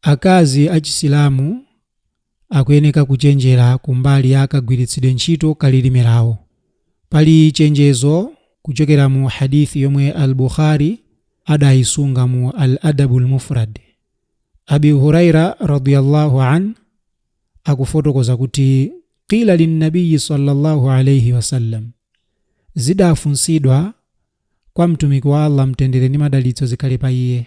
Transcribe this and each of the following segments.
Akazi a Chisilamu akuyeneka kuchenjera kumbali ya kagwiritsidwe ntchito ka lilime lawo. Pali chenjezo kuchokera mu Hadith yomwe Al-Bukhari adayisunga mu Al-Adabul Mufrad. Abi Huraira radhia Allah anh akufotokoza kuti, Qila lin-Nabiyyi sallallâhu alaihi wa sallam, Zidafunsidwa kwa Mtumiki wa Allah Mtendere ndi Madalitso zikhale pa iye,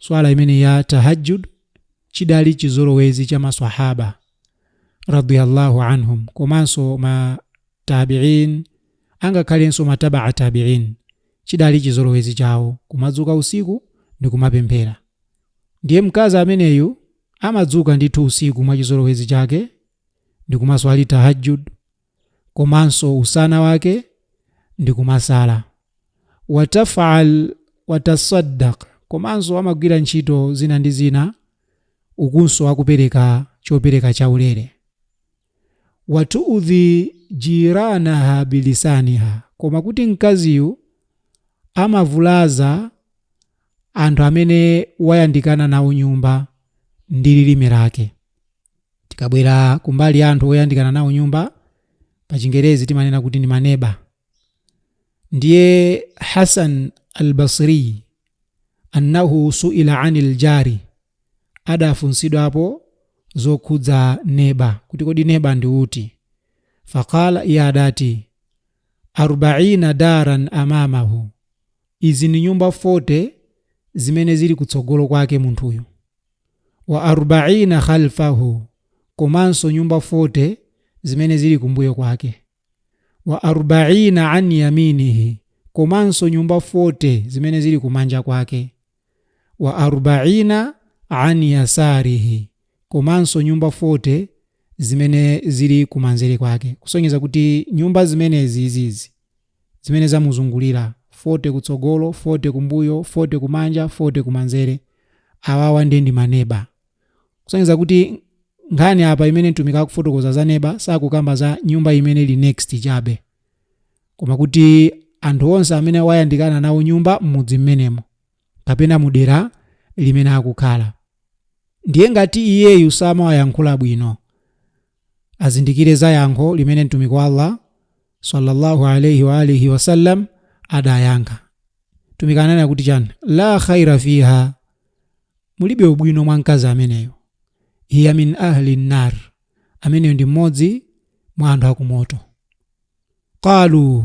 swala imene ya tahajjud chidali chizolowezi cha maswahaba radiyallahu anhum komanso ma tabiin angakhalenso matabaa tabiin chidali chizolowezi chawo kumadzuka usiku ndi kumapemphera ndiye mkazi ameneyu amadzuka ndithu usiku mwa chizolowezi chake ndi kumaswali tahajjud komanso usana wake ndikumasala, wataf'al watasaddaq komanso amagwira ntchito zina ndi zina ukunso akupereka chopereka chaulere, watu'udhi jiranaha bilisaniha koma kuti mkaziyu amavulaza anthu amene wayandikana nawo nyumba ndi lilime lake. Tikabwera kumbali anthu oyandikana nawo nyumba, pa Chingerezi timanena kuti ndi maneba. Ndiye Hasan al-Basri annahu suila anil jari adafunsidwapo zokhudza neba kuti kodi neba ndi uti? Faqala iye adati arbaina daran amamahu, izi ndi nyumba 40 zimene zili kutsogolo kwake munthuyu. wa arbaina khalfahu komanso nyumba 40 zimene zili kumbuyo kwake wa arbaina an yaminihi komanso nyumba 40 zimene zili kumanja kwake wa arbaina an yasarihi komanso nyumba 40 zimene zili kumanzere kwake kusonyeza kuti nyumba zimenezi izizi zimene zamuzungulira, 40 kutsogolo, 40 kumbuyo, 40 kumanja, 40 kumanzere. Awawa nde ndi maneba. Kusonyeza kuti nkhani apa imene mtumiki akufotokoza za neba sakukamba za nyumba imene ili next chabe, koma kuti anthu onse amene wayandikana nawo nyumba m'mudzi mmenemo kapena mudera limene akukhala. Ndiye ngati iyeyu samawayankhula bwino, azindikire za yankho limene mtumiki wa allah sallallahu alaihi wa alihi wasallam adayankha mtumiki ananena kuti chani la khaira fiha mulibe ubwino mwa mkazi ameneyo hiya min ahli nnar ameneyo ndi mmodzi mwa anthu akumoto qalu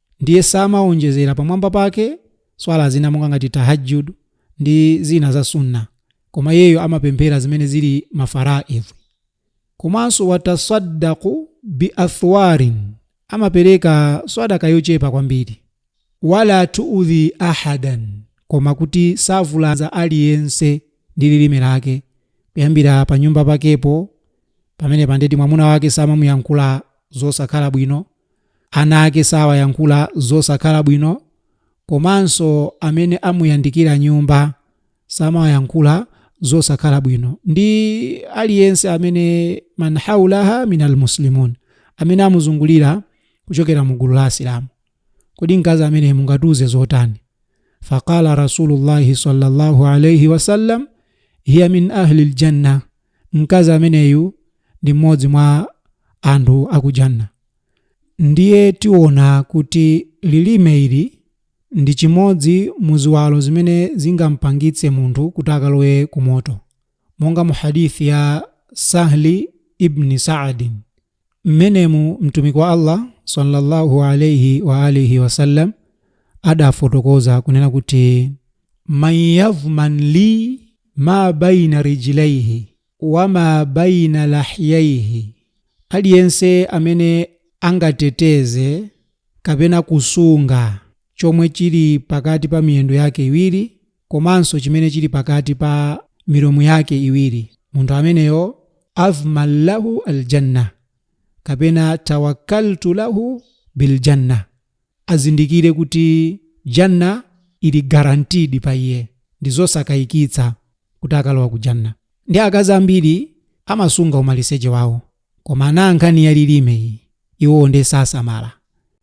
Ndiye samawonjezera pamwamba pake Swala zina monga ngati Tahajjud ndi zina za Sunnah, koma iyeyo amapemphera zimene zili ma Faraidh. Komanso watasaddaqu bi athwarin, amapereka Swadaqa yochepa kwambiri. Wala tu'udhi ahadan, koma kuti savulaza aliyense ndi lirime lake, kuyambira panyumba pakepo, pamenepa nde kuti mwamuna wake samamuyankhula zosakhala bwino, ana ake sawayankhula zosakhala bwino komanso amene amuyandikira nyumba samawayankhula zosakhala bwino ndi aliyense amene man haulaha min almuslimin amene amuzungulira kuchokera mu gulu la asilamu kodi mkazi ameneyu mungatiuze zotani faqala rasulullahi sallallahu alaihi wasallam hiya min ahli ljanna mkazi ameneyu ndi mmodzi mwa anthu akujanna Ndiye tiona kuti lilime ili ndi chimodzi mu ziwalo zimene zingampangitse munthu kuti akalowe ku moto. Monga mu Hadith ya Sahli Ibni Saadin, m'menemu Mtumiki wa Allah swalla Allahu alaih wa alihi wa sallam adafotokoza kunena kuti. Man yadhman li ma baina rijlayhi, wa ma baina lahyayhi, Aliyense amene angateteze kapena kusunga chomwe chili pakati pa miyendo yake iwiri komanso chimene chili pakati pa milomo yake iwiri, munthu ameneyo adhman lahu al-Jannah kapena tawakkaltu lahu bil-Jannah. azindikire kuti Jannah ili guaranteed pa iye ndizosakayikitsa kuti akalowa ku Jannah ndi akazi ambiri amasunga umaliseche wawo koma pa nkhani ya lilime iyi iwo nde sasamala